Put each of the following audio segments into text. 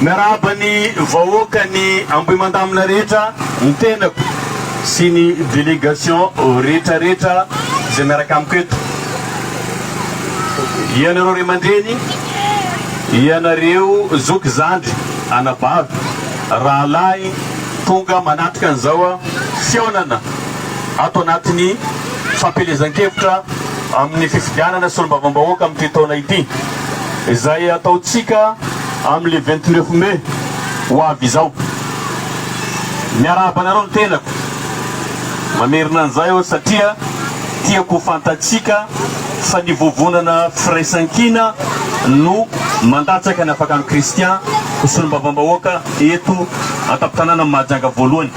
Miarahaba ny vahoaka ny Ambohimandamina rehetra, ny tenako sy ny délégation rehetra rehetra izay miaraka amiko eto. Ianareo ray aman-dreny, ianareo zoky zandry, anabavy, rahalahy tonga manatrika an'izao fihaonana ato anatin'ny fampielezan-kevitra amin'ny fifidianana solombavambahoaka amin'ity taona ity izay ataontsika Amin'ny vingt neuf mai ho avy izao. Miarahaba anareo ny tenako. Mamerina an'izay aho satria tiako ho fantatsika fa ny vovonana firaisankina no mandatsaka ny Afakan'ny Christian ho solombavambahoaka eto an-tampon-tanànan'i Mahajanga voalohany.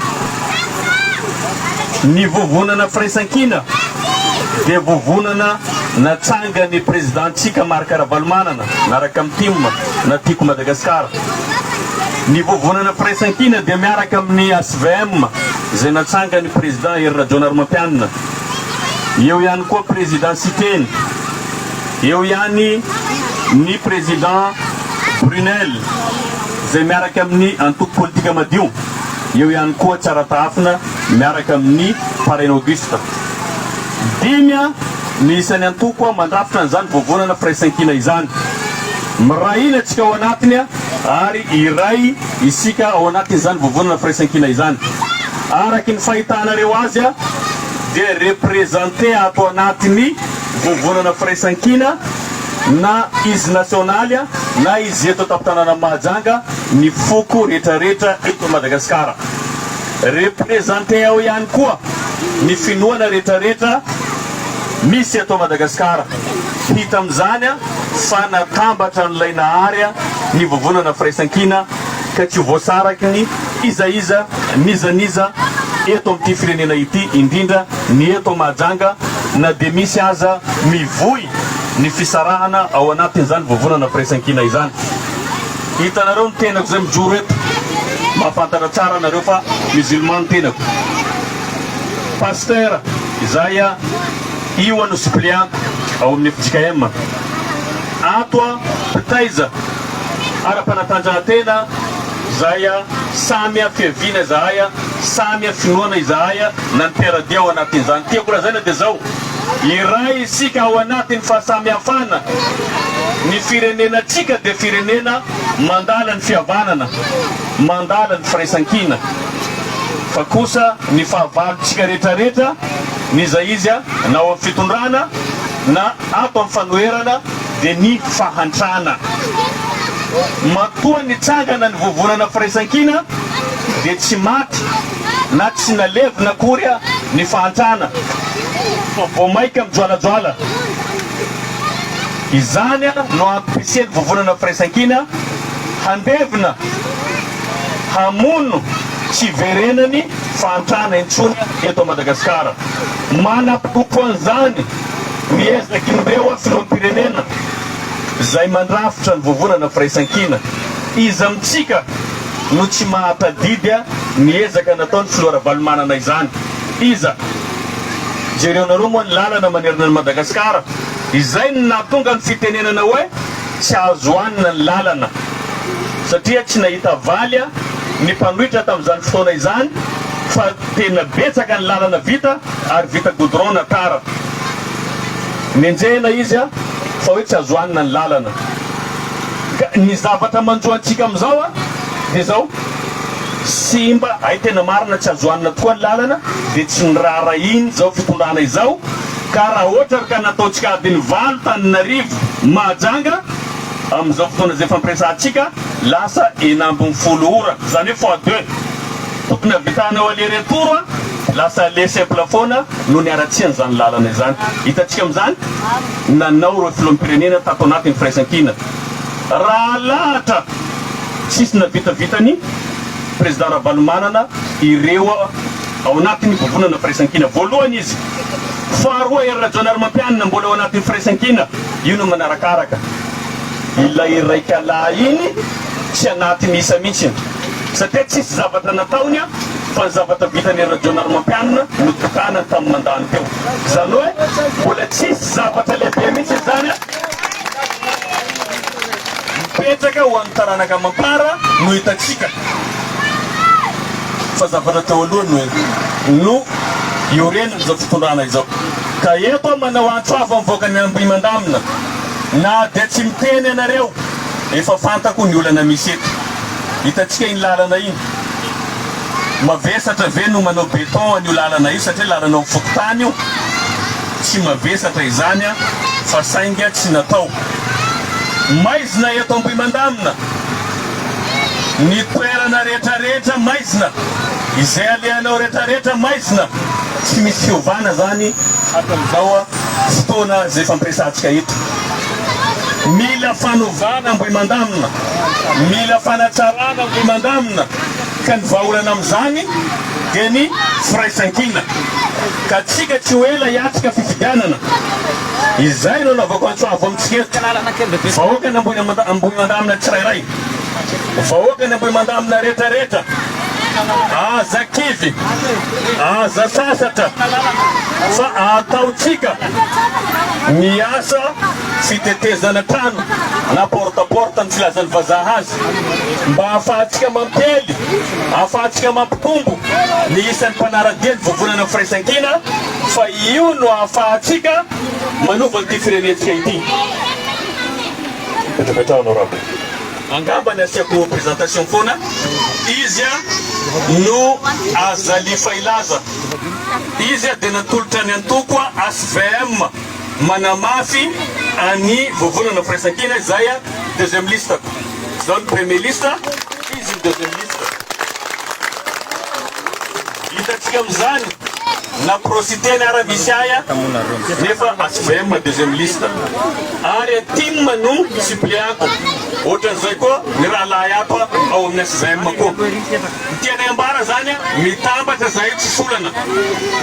Ny vovonana firaisankina dia vovonana Natsangan'ny Prezidantsika Marc Ravalomanana miaraka amin'ny tim na Tiako Madagascar. Ny Vovonana Firaisankina dia miaraka amin'ny HVM izay natsangan'ny President Hery Rajaonarimampianina. Eo ihany koa President Siteny. Eo ihany ny President Brunel izay miaraka amin'ny Antoko Politika Madio. Eo ihany koa Tsaratahafina miaraka amin'ny Parrain Auguste. Dimy no isan'ny antoko mandrafitra an'izany vovonana firaisankina izany. Miray hina isika ao anatiny ary iray isika ao anatin'izany vovonana firaisankina izany. Araky ny fahitanareo azy dia representer ato anatin'ny vovonana firaisankina na izy nasionaly na izy eto an-tampon-tanàna Mahajanga ny foko rehetrarehetra eto Madagasikara. Representer ao ihany koa ny finoana retraretra misy eto Madagascar. Hita amin'izany fa natambatra an'ilay Nahary ny vovonana firaisankina ka tsy ho voasaraky ny iza iza n'iza n'iza eto amin'ity firenena ity indrindra ny eto Mahajanga na dia misy aza mivoy ny fisarahana ao anatin'izany vovonana firaisankina izany. Hitanareo ny tenako zay mijoro eto, mahafantatra tsara nareo fa musulman ny tenako. Pasteur, izahay a io a no suppléant ao amin'ny fjkm. Ato a mpitaiza ara-panatanjahantena izahay a, samy a fiaviana izahay a, samy a finoana izahay a, na ny mpiara-dia ao anatin'izany. Tiako lazaina dia zao. Iray isika ao anatin'ny fahasamihafana, ny firenenantsika dia firenena mandala ny fihavanana, mandala ny firaisankina, fa kosa ny fahavalontsika rehetrarehetra n'iza iza na ao amin'ny fitondrana na ato amin'ny fanoherana dia ny fahantrana. Matoa nitsangana ny vovonana firaisankina dia tsy maty. na tsy nalevina akory ny fahantrana fa vao maika mijoalajoala. Izany no ampirisihan'ny Vovonana Firaisankina handevina hamono tsy hiverenany fahantrana intsony eto Madagasikara. Manaporofo an'izany ny ezak'ireo Filoham-pirenena izay mandrafitra ny Vovonana Firaisankina. Iza amintsika? no tsy mahatadidy ny ezaka nataon'ny filoha Ravalomanana izany. Iza? Jereonareo moa ny lalana manerana an'i Madagasikara. Izay no nahatonga ny fitenenana hoe tsy azo hanina ny lalana. Satria tsy nahita valy ny mpanohitra tamin'izany fotoana izany fa tena betsaka ny lalana vita ary vita goudron na tara. Nenjehina izy fa hoe tsy azo hanina ny lalana. Ka ny zavatra manjo antsika amin'izao dia izao, simba, hay tena marina tsy azo hanina tokoa ny lalana, dia tsy noraharahiany izao fitondrana izao, ka raha ohatra ary ka nataontsika adiny valo tanin'arivo Mahajanga, amin'izao fotoana izay fampiresahantsika, lasa enina ambin'ny folo ora, izany hoe fois deux, tokony havitanao aller retour, lasa aller simple foana no niharatsian'izany lalana izany, hitantsika amin'izany? nanao ireo filoham-pirenena tato anatin'ny firaisankina raha alahatra sy tsy navitavitan'ny Prezida Ravalomanana ireo ao anatin'ny vovonana firaisankina voalohany izy, faharoa Hery Rajaonarimampianina mbola ao anatin'ny firaisankina, io no manarakaraka ilay iraikalahy iny tsy anaty misa mihitsy satria tsisy zavatra nataony fa ny zavatra vitan'i Hery Rajaonarimampianina no tokanany tamin'ny mandany teo. Izany hoe mbola tsisy zavatra lehibe mihitsy izany an! Mipetraka ho an'ny taranaka amam-para no hitantsika fa zavatra teo aloha no no iorenan'izao fitondrana izao. Ka eto aho manao antso avo mivoaka ny Ambohimandamina, na dia tsy miteny ianareo, efa fantako ny olana misy eto. Hitantsika iny lalana iny. Mavesatra ve no manao beton an'io lalana io satria lalana eo amin'ny fokontany io? Tsy mavesatra izany fa sainga tsy natao. Maizina eto Ambohimandamina. Ny toerana rehetrarehetra maizina. Izay alehanao rehetrarehetra maizina. Tsy misy fiovana izany hatramin'izao fotoana izay fampiresahantsika eto. Mila fanovana Ambohimandamina. Mila fanatsarana Ambohimandamina. ka ny vahaolana amin'izany dia ny firaisankina ka antsika tsy ho ela hiatrika fifidianana izay no anaovako antso avo amintsika eto vahoaka ny Ambohimandamina tsirairay vahoaka ny Ambohimandamina retraretra aza kivy aza sasatra fa ataontsika miasa fitetezana trano na porte à porte ny filazan'ny vazaha azy Mba hahafahantsika mampiely, hahafahantsika mampitombo ny isan'ny mpanara-dia ny Vovonana Firaisankina fa io no hahafahantsika manova an'ity firenentsika ity. Mipetrapetraha honorable. Angamba ny asiako présentation foana, izy no Azali Fahilaza. Izy dia natolotra ny antoko HVM. manamafy an'i Vovolana Firaisankina izay deuxième liste-ko. Izaho no premier liste, izy no deuxième liste. Hitantsika amin'izany na pro-Siteny ara misy ahy nefa HVM deuxième liste. Ary Atim no suppléant-ko. Ohatran'izay koa ny rahalahy hafa ao amin'ny HVM koa. Ny tianay ambara zany a, mitambatra zahay mpisolana,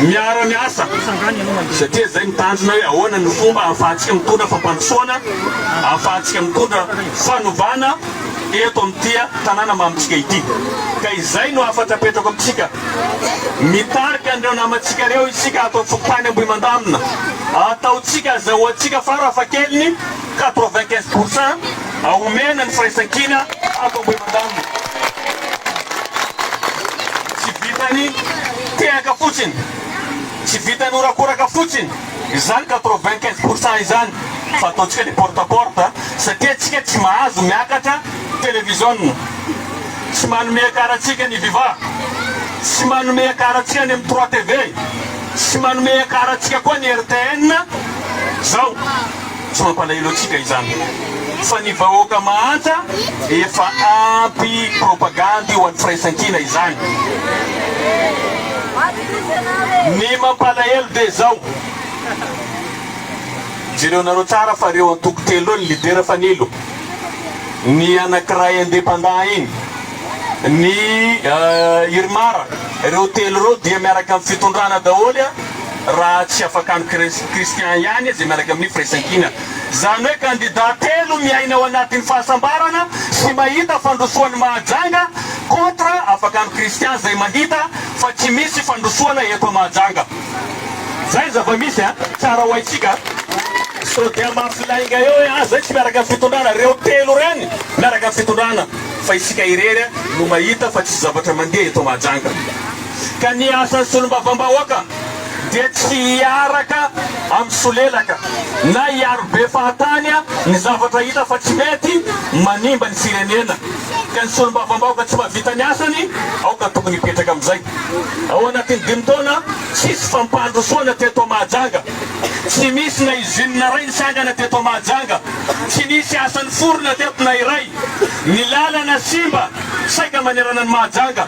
miara miasa, satria zay mitandrina hoe ahoana ny fomba ahafahantsika mitondra fampandrosoana, ahafahantsika mitondra fanovana eto am ty a tanàna mamintsika ity. Ka izay no hafatra apetrako amitsika. Mitarika an'ireo namantsika ireo isika ato am fokontany Ambohimandamina. Ataontsika, azahoantsika fara fahakeliny quatre-vingt-quinze pour cent a omena ny firaisankina ato Ambohimandalina. Tsy vitan'ny tehaka fotsiny, tsy vitan'ny horakoraka fotsiny izany quatre-vingt-quinze pour cent izany fa ataontsika ny porte à porte satria antsika tsy mahazo miakatra televiziona, tsy manome ekar antsika ny viva, tsy manome ekar antsika any amin'ny trois TV, tsy manome ekar antsika koa ny rtn zao. tsy mampalahelo antsika izany fa ny vahoaka mahantra efa ampy propagandy ho an'ny firaisankina izany. Ny mampalahelo dia izao, jereonareo tsara fa ireo antoko telo ireo ny lidera fanilo, ny anankiray independant iny, ny Irmar, ireo telo ireo dia miaraka amin'ny fitondrana daholo raha tsy afakan'i Christian ihany izay miaraka amin'ny firaisankina. Izany hoe kandida telo miaina ao anatin'ny fahasambarana sy mahita fandrosoan'ny Mahajanga contre afakan'i Christian izay mahita fa tsy misy fandrosoana eto Mahajanga. Izay ny zava-misy an! Tsara ho haintsika sao dia mafy lainga eo hoe ah izay tsy miaraka amin'ny fitondrana, ireo telo ireny miaraka amin'ny fitondrana. fa isika irery no mahita fa tsisy zavatra mandeha eto Mahajanga ka ny asan'ny solombavambahoaka dia tsy hiaraka amin'ny solelaka na hiaro be fahatany ny zavatra hita fa tsy mety manimba ny firenena ka ny solombavambahoka tsy mahavita ny asany aoka tokony hipetraka amin'izay ao anatin'ny dimy taona tsisy fampandrosoana teto Mahajanga. Tsy misy na izine na iray nitsangana teto Mahajanga. Tsy nisy asa niforona teto na iray. Ny lalana simba saika manerana an'i Mahajanga.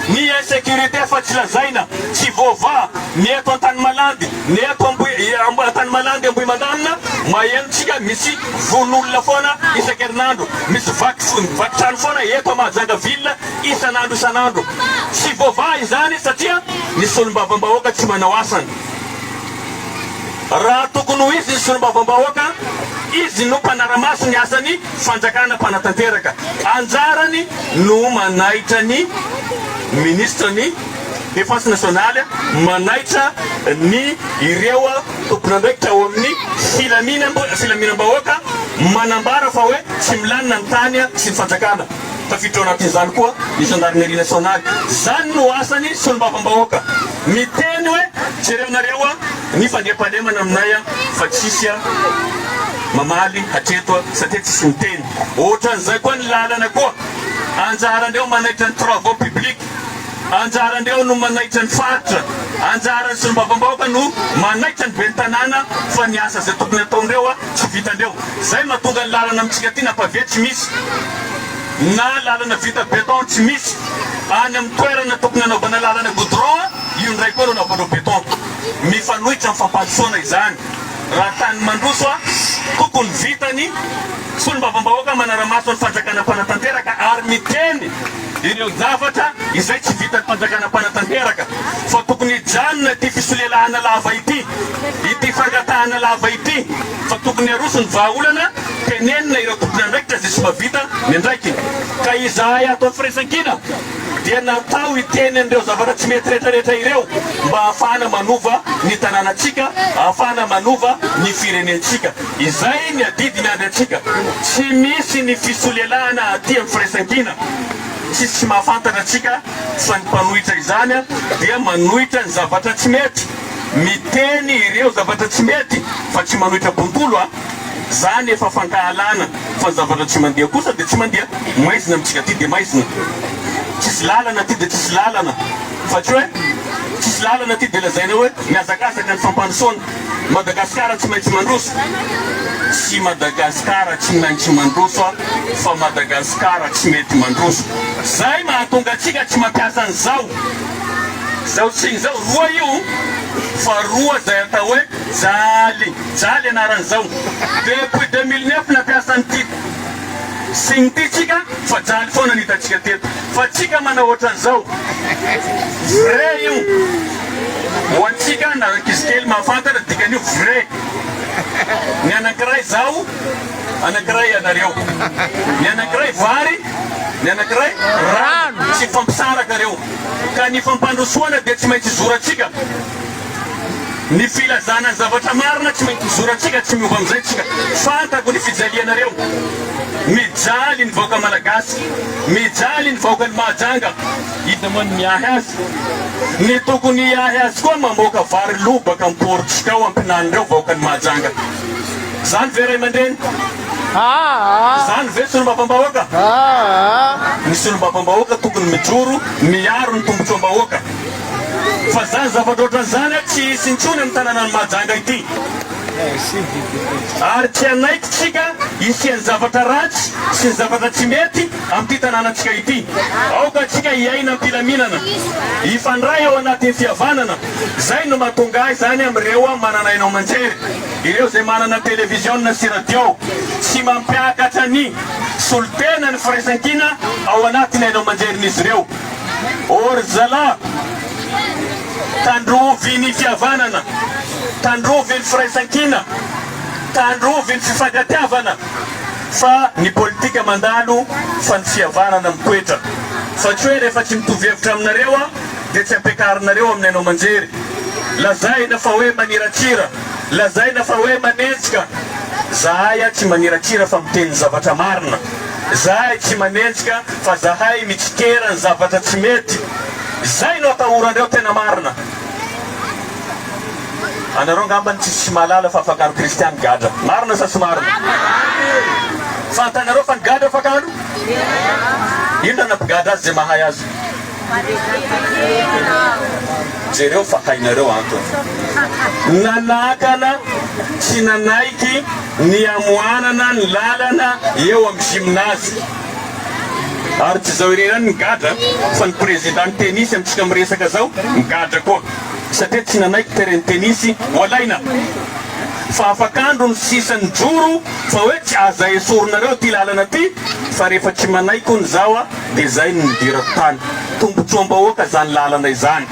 Ny insécurité fa tsy lazaina, tsy voavaha, ny eto Antanimalandy, ny eto Ambohi, Antanimalandy Ambohimandamina, maheno tsika misy vono olona foana isan-kerinandro. Misy vaky, vaky trano foana eto à Mahajanga ville isan'andro isan'andro. Tsy voavaha izany satria ny solombavambahoaka tsy manao asany. Raha tokony ho izy ny solombavambahoaka, izy no mpanara-maso ny asan'ny fanjakana mpanatanteraka. Anjarany no manaitra ny minisitra ny Defense nationale, manaitra ny ireo tompon'andraikitra ao amin'ny filaminam-bahoaka, manambara fa hoe tsy milanina ny tany sy ny fanjakana. Tafiditra ao anatin'izany koa ny Zandarineria Nasionaly. Izany no asan'ny Solombavambahoaka. Miteny hoe, jereo nareo ny fandriampahalemana aminay fa tsisy mamaly hatreto satria tsisy miteny. Ohatran'izay koa ny lalana koa, anjarandreo manaitra ny travaux publics, anjarandreo no manaitra ny faritra, anjaran'ny Solombavambahoaka no manaitra ny Ben'ny Tanàna fa ny asa izay tokony hataondreo Tsy vitandreo. Zay matonga ny lalana amintsika aty na pavé tsy misy na lalana vita beton tsy misy. Any amin'ny toerana tokony hanaovana lalana goudron io indray koa no anaovandreo beton. Mifanohitra amin'ny fampandrosoana izany. Raha tany mandroso a tokony vitany. Solombavambahoaka manara-maso ny fanjakana mpanatanteraka ary miteny. ireo zavatra izay tsy vitan'ny fanjakana mpanatanteraka fa tokony hijanona ity fisolelahana lava ity, ity fangatahana lava ity fa tokony haroso ny vahaolana tenenina ireo tompon'andraikitra izay tsy mba vita ny andraikiny ka izahay ato amin'ny firaisankina dia natao hiteny an'ireo zavatra tsy mety retraretra ireo mba hahafahana manova ny tanànantsika, hahafahana manova ny firenentsika. Izay ny adidiny avy antsika. Tsy misy ny fisolelahana aty amin'ny firaisankina. Tsisy tsy mahafantatra antsika fa ny mpanohitra izany dia manohitra ny zavatra tsy mety. Miteny ireo zavatra tsy mety fa tsy manohitra bontolo a! Zany efa fankahalana fa ny zavatra tsy mandeha kosa dia tsy mandeha. Maizina amintsika aty dia maizina. Tsisy lalana aty dia tsisy lalana fa tsy hoe tsisy lalana aty dia lazaina hoe mihazakazaka ny fampandrosoana. Madagasikara tsy maintsy mandroso Tsy Madagasikara tsy maintsy mandroso a Fa Madagasikara tsy mety mandroso Zay mahatonga antsika tsy mampiasa an'izao Zao tsiny izao Roa io fa roa zay atao hoe jaly Jaly anaran'izao Depuis deux mille neuf nampiasa an'ity sy ny tiantsika fa jaly foana ny hitantsika teto fa tsika manao ohatran'izao vrai io ho antsika na ankizy kely mahafantatra dikan'io vrai ny anankiray zaho anankiray ianareo ny anankiray vary ny anankiray rano tsy hifampisaraka reo ka ny fampandrosoana dia tsy maintsy zorantsika Ny filazana ny zavatra marina tsy maintsy zorantsika tsy miova amin'izay tsika. Fantako ny fijalianareo. Mijaly ny vahoaka malagasy. Mijaly ny vahoakan'i Mahajanga. Iza moa no miahy azy? Ny tokony hiahy azy koa mamoaka vary lo baka am-porontsika ao am-pinan'ireo vahoakan'i Mahajanga. Izany ve ray aman-dreny? Izany ve solombavambahoaka? Ny solombavambahoaka tokony mijoro miaro ny tombotsoam-bahoaka. Fa zany zavatra ohatran'izany a tsy hisy intsony amin'ny tanànan'i Mahajanga ity. Ary tsy hanaiky tsika hisian'ny zavatra ratsy sy ny zavatra tsy mety amin'ity tanànantsika ity. Aoka tsika hiaina am-pilaminana, hifandray ao anatin'ny fihavanana. Zay no mahatonga ahy zany amin'ireo manana haino aman-jery, ireo zay manana televiziona sy radio sy mampiakatra ny solontenan'ny firaisankina ao anatin'ny haino aman-jerin'izy ireo. O ry zalahy, tandrovy ny fihavanana, tandrovy ny firaisankina, tandrovy ny fifankatiavana fa ny politika mandalo fa ny fihavanana mitoetra fa tsy hoe rehefa tsy mitovy hevitra aminareo aho dia tsy ampiakarinareo amin'ny haino aman-jery. Lazaina fa hoe maniratsira, lazaina fa hoe manenjika, zahay aho tsy maniratsira fa miteny ny zavatra marina. Zahay tsy manenjika fa zahay mitsikera ny zavatra tsy mety. Zay no atahorandreo tena marina. Anareo ngambany tsisy tsy mahalala fa afakaro kristiany gadra. Marina sa tsy marina? Fantanareo fa ny gadra afakaro? Inona nampigadra azy zay mahay azy? Jereo fa hainareo antony nanakana sy nanaiky ny hamohanana ny lalana eo amin'ny gymnase. Ary tsy izao irery ihany ny gadra fa ny prezidan'ny tenisy amintsika miresaka izao migadra koa satria tsy nanaiky terrain tenisy ho alaina. Fa afak'andro ny sisa nijoro fa hoe tsy aza esorinareo ity lalana ity fa rehefa tsy manaiky hono izaho a! Dia izay no nidirako tany. Tombotsoa am-bahoaka izany lalana izany.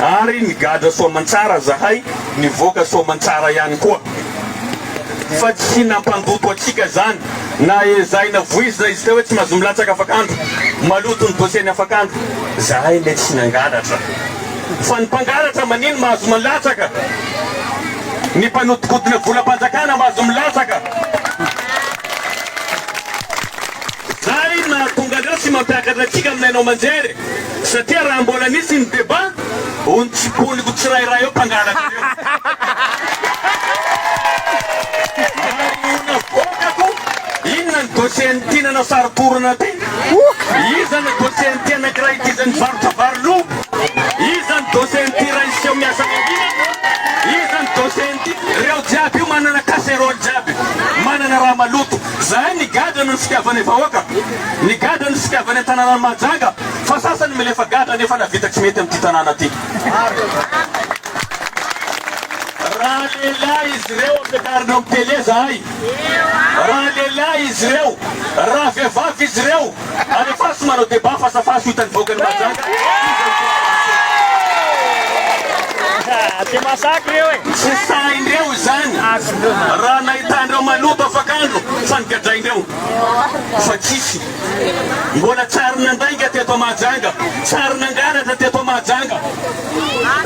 Ary nigadra soa aman-tsara izahay, nivoaka soa aman-tsara ihany koa. Fa tsy nampandoto antsika izany, na ezahina voizina izy teo hoe tsy mahazo milatsaka afak'andro, maloto ny dossier-ny afak'andro. Izahay anie tsy nangalatra. Fa ny mpangalatra manino mahazo milatsaka? Ny mpanodinkodina volam-panjakana mahazo milatsaka? Zany no nahatonga an'ireo tsy mampiakatra antsika amin'ny haino aman-jery e! Satria raha mbola nisy ny débat, ony tsy boniko tsirairay eo mpangalatra ireo. Marihina foana ko, inona ny dossier-n'i Tiana na Saro-porona ty? Iza ny dossier-n'ity anankiray ity izay mivarotra vary lo? Iza ny dossier-n'i Ty Raisy seho miasa mangina? Iza ny dossier-n'i. Ireo jiaby io manana casserole jiaby, manana raha maloto. Zahay nigadra noho ny fitiavana ny vahoaka, nigadra ny fitiavana ny tananan'i Mahajanga fa sasany milefa gadra nefa navita tsy mety amin'ity tanàna ity. Raha lehilahy izy ireo ampiakarina amin'ny tele zahay, raha lehilahy izy ireo, raha vehivavy izy ireo. Any afara tsy manao débat face à face ho hitan'ny vahoakan'i Mahajanga iza no tena mahasakana. Tsy sahin'ireo izany raha nahitan'ireo maloto afak'andro fa nogadrain'ireo. Fa tsisy. Mbola tsy ary nandainga teto Mahajanga, tsy ary nangalatra teto Mahajanga.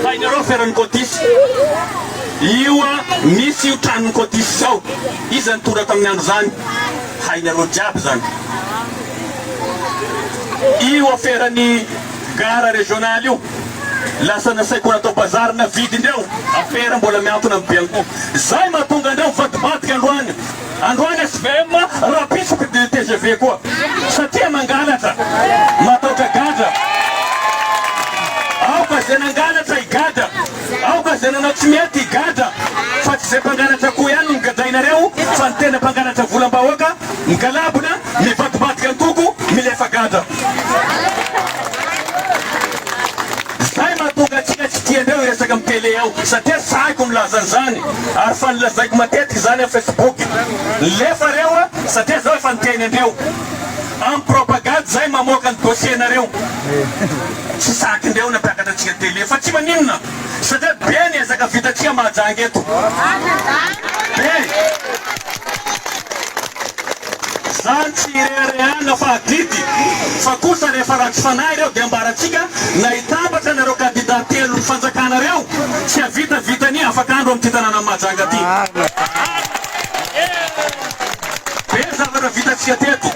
Hainareo feran'ny cotis. Io misy io tranon'i cotis izao. Iza nitondra tamin'ny andro izany. Hainareo jiaby izany. Io aferan'ny gara régional io lasa nasaiko natao bazary navidy indreo afera mbola miantona amin'ny bianco zay mahatonga andreo mivadibadika androany androany svm rapisoky de tgv koa satria mangalatra mataotra gadra aoka zay nangalatra higadra Aoka zay nanao tsy mety higadra fa tsy zay mpangalatra akoho ihany no nogadrainareo fa ny tena mpangalatra volam-bahoaka migalabona, mivadibadika an-koko, milefa gadra. Zay mahatonga antsika tsy tiandreo hiresaka amin'ny tele ao satria tsy haiko milaza an'izany ary fa nolazaiko matetika izany amin'ny facebook. Nilefa reo satria zao efa niteny andreo. Am propagade zay mamoaka ny dossier nareo. Tsy saky ndreo nampiakatra antsika télé fa tsy maninona satria be ny ezaka vitantsika Mahajanga eto. Be. Zany tsy ireharehana fa adidy fa kosa rehefa ratsy fanahy ireo dia ambarantsika na hitambatra nareo kandida telo ny fanjakana reo tsy havita vitany afaka andro amty tananan'i Mahajanga ty. Be ny zavatra vitantsika teto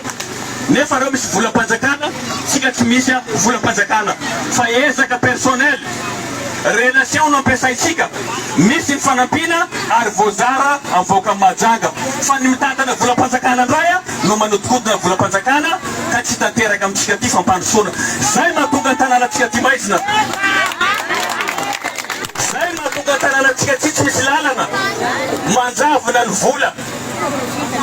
nefa reo misy volam-panjakana tsika tsy misy a volam-panjakana fa ezaka personnel relation no ampiasaintsika misy ny fanampiana ary voazara am vahoakan'i Mahajanga fa ny mitantana volam-panjakana ndray a no manodikodina volam-panjakana ka tsy tanteraka amintsika ty fampandrosoana zay mahatonga ny tananatsika ty maizina zay mahatonga ny tananatsika ty tsy misy lalana manjavona ny vola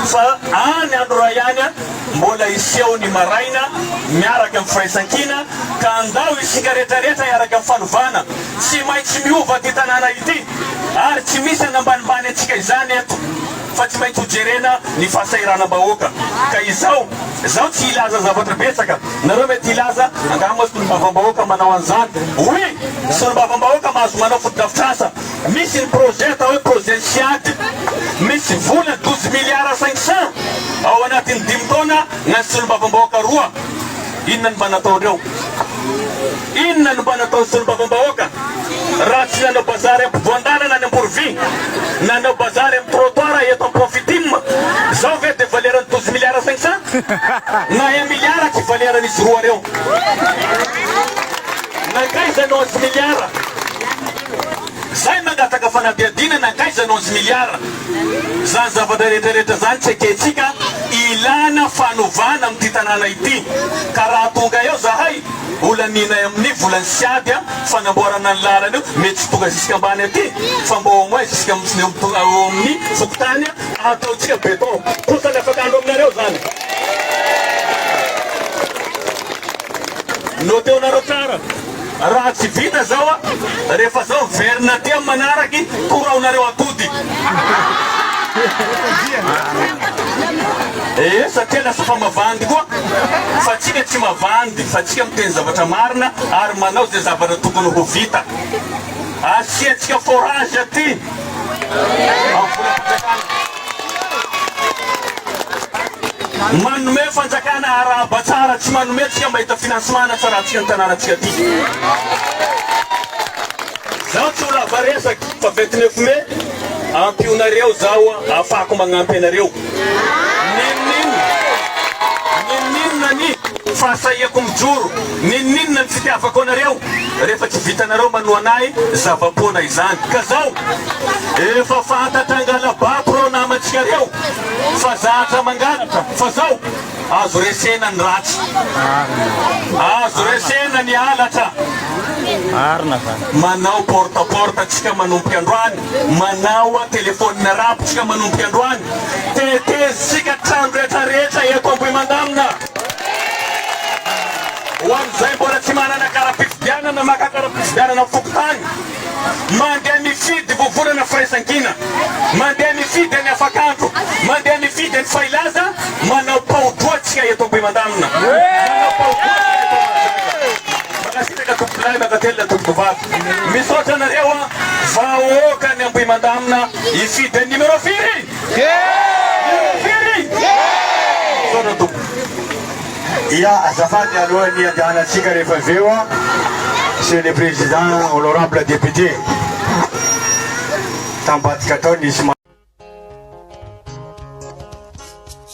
Fa any Anora ihany an, mbola hiseho ny maraina miaraka amin'ny firaisankina, ka andao isika rehetra rehetra hiaraka amin'ny fanovana. Tsy maintsy miova ity tanàna ity, ary tsy misy hanambanimbany antsika izany eto, fa tsy maintsy hojerena ny fahasahiranam-bahoaka. Ka izao, izaho tsy hilaza zavatra betsaka, nareo mety hilaza, angaha moa solombavambahoaka manao an'izany? Oui! Solombavambahoaka mahazo manao fotodrafitrasa, Misy ny projet atao hoe projet Siad, misy vola douze milliards cinq cents ao anatin'ny dimy taona na ny solombavambahoaka roa. Inona no mba nataondreo? Inona no mba nataon'ny solombavambahoaka raha tsy nanao bazary ampovoan-dalana any Amborovy, nanao bazary amin'ny trottoir eto Ampofitim? Zao ve de valeran'ny douze milliards cinq cents? Na un milliard tsy valeran'izy roa reo. Nankaiza ny onze milliards? Zay mangataka fanadihadiana nankaiza no anzy miliara? Zany zavatra rehetra rehetra zany tsy ekentsika ilana fanovana amin'ity tanàna ity ka raha tonga eo zahay holaninay amin'ny volany sy ady fanamboarana ny lalana io mety tsy tonga zisika ambany aty fa mba au moins zisika eo amin'ny fokontany ataontsika beton kosany afaka andro aminareo zany note-onareo tsara. Raha tsy vita zao a, rehefa zao miverina aty am manaraky, koraonareo atody. Ee satria lasa fa mavandy koa. Fa tsika tsy mavandy fa tsika miteny zavatra marina ary manao ze zavatra tokony ho vita. Asiatsika forage aty am volam-panjakana. Manome fanjakana arahaba tsara tsy manome antsika mba hita financement hanatsaratsika ny tananantsika aty. Zaho tsy ho lava resaky fa vingt neuf mai ampionareo zaho afako magnampy anareo ninoninona ninoninona ny fahasahiako mijoro Ninoninona ny fitiavako anareo rehefa tsy vitanareo manohana ahy zava-poana izany ka zao efa fantatra angalabako reo namantsika reo fa zatra mangalatra fa zao azo resena ny ratsy azo resena ny halatra manao porte porte tsika manomboka androany manao a telephone arabe tsika manomboka androany tetezitsika trano retraretra eto ambohimandamina Ho an'izay mbola tsy manana kara-pifidianana, maka kara-pifidianana amin'ny fokontany, mandeha mifidy vovonana firaisankina, mandeha mifidy any Afakandro, mandeha mifidy any Fahilaza, manao pao-droa tsika eto Ampimandanina. Manao pao-droa tsika eto Mahajanga. Mankasitraka tompolahy, mankatelina tompovavy. Misaotra anareo an! Vahoaka ny Ambohimandamina hifidy ny numéro firy? Miaina firy izy? Misaotra tompoko. Dia azafady alohan'ny hiandehanantsika rehefa avy eo an, Monsieur le Président, Honorable Député, tam-badika tao nisy.